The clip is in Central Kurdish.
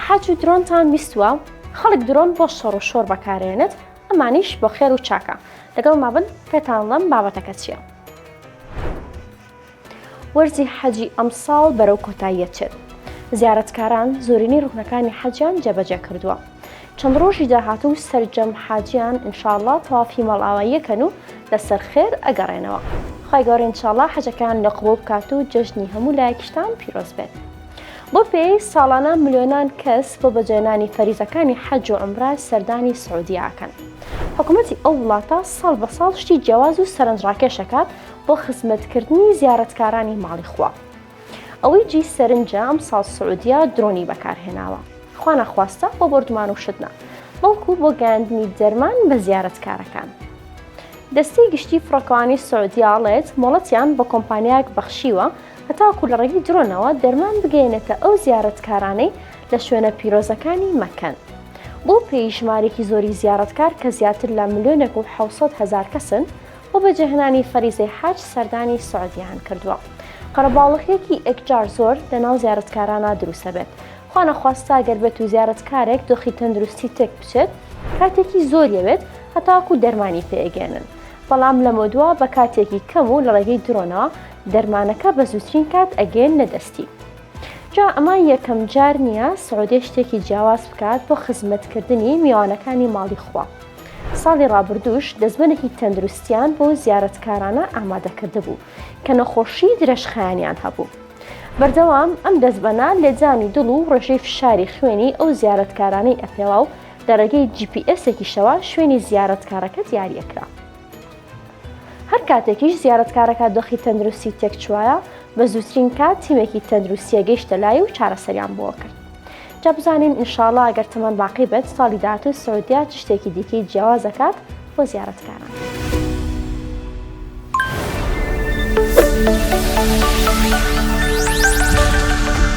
حەج و درۆنتان بیستوە خەڵک درۆن بۆ شەڕو شۆر بەکارێنێت ئەمانیش بۆ خێر و چاکە لەگەڵ مابن پێتانڵم بابەتەکە چیە. وەرزی حەجی ئەمساڵ بەرەو کۆتاییە چێت زیارەتکاران زۆرینەی ڕوکنەکانی حەجیان جێبەجێ کردووە چەند ڕۆژی داهاتوو سەرجەم حاجیان انشاءاللە تەوافی مەڵاواییەکەن و لەسەر خێر ئەگەڕێنەوە خی گەورە انشاءاللە حەجەکان لە قبوڵ بکات و جەژنی هەموو لایەکیشتان پیرۆز بێت بەو پێیەی ساڵانە ملیۆنان کەس بۆ بەجێنانی فەریزەکانی حەج و عومرە سەردانی سعودیە ئەکەن، حکومەتی ئەو وڵاتە ساڵ بە ساڵ شتی جیاواز و سەرنجڕاکێش ئەکات بۆ خزمەتکردنی زیارەتکارانی ماڵی خوا. ئەوەی جێی سەرنجە ئەمساڵ سعودیە درۆنی بەکارهێناوە، خوانەخواستە بۆ بۆردومان و شت نا، بەڵکو بۆ گەیاندنی دەرمان بە زیارەتکارەکان. دەستەی گشتی فڕۆکەوانی سعودیە ئەڵێت، مۆڵەتیان بە کۆمپانیایەک بەخشیوە هەتاکو لە ڕێگەی درۆنەوە دەرمان بگەیەنێتە ئەو زیارەتکارانەی لە شوێنە پیرۆزەکانی مەکەن. بەو پێیەی ژمارەیەکی زۆری زیارەتکار کە زیاتر لە ملیۆنێک و حەوت سەد هەزار کەسن، بۆ بەجێهێنانی فەریزەی حەج سەردانی سعودیەیان کردووە. قەرەباڵغییەکی ئێکجار زۆر لە ناو زیارەتکارانە دروست ئەبێت. خوانەخواستە گەر بێت و زیارەتکارێک دۆخی تەندروستی تێک بچێت، کاتێکی زۆر یەوێت هەتاکو دەرمانی پێ ئەگەیەنن، بەڵام لەمەودوا بە کاتێکی کەم و لە ڕێگەی درۆنەوە دەرمانەکە بە زوترین کات ئەگەیەننە دەستی جا ئەمە یەکەم جار نییە سعودێ شتێکی جیاواز بکات بۆ خزمەتکردنی میوانەکانی ماڵی خوا ساڵی ڕابردووش دەزمەنێکی تەندروستیان بۆ زیارەتکارانە ئامادەکرد بوو کە نەخۆشی درێژخایەنیان هەبوو بەردەوام ئەم دەزبەنە لێدزانی دڵ و ڕێژەی فشاری خوێنی ئەو زیارەتکارانەی ئەپێوا و لە ڕێگەی جی پی ئێسێکیشەوە شوێنی زیارەتکارەکە دیاریەکرا هەر کاتێکیش زیارەتکارەکە دۆخی تەندروستی تێکچوایە بە زووترین کات تیمێکی تەندروستیە گەیشتە لای و چارەسەریان بۆ کرد جا بزانین ئینشاڵا گەر تەمان باقی بێت ساڵی داهاتوو سعودیا چ شتێکی دیکەی جیاواز دەکات بۆ زیارەتکاران.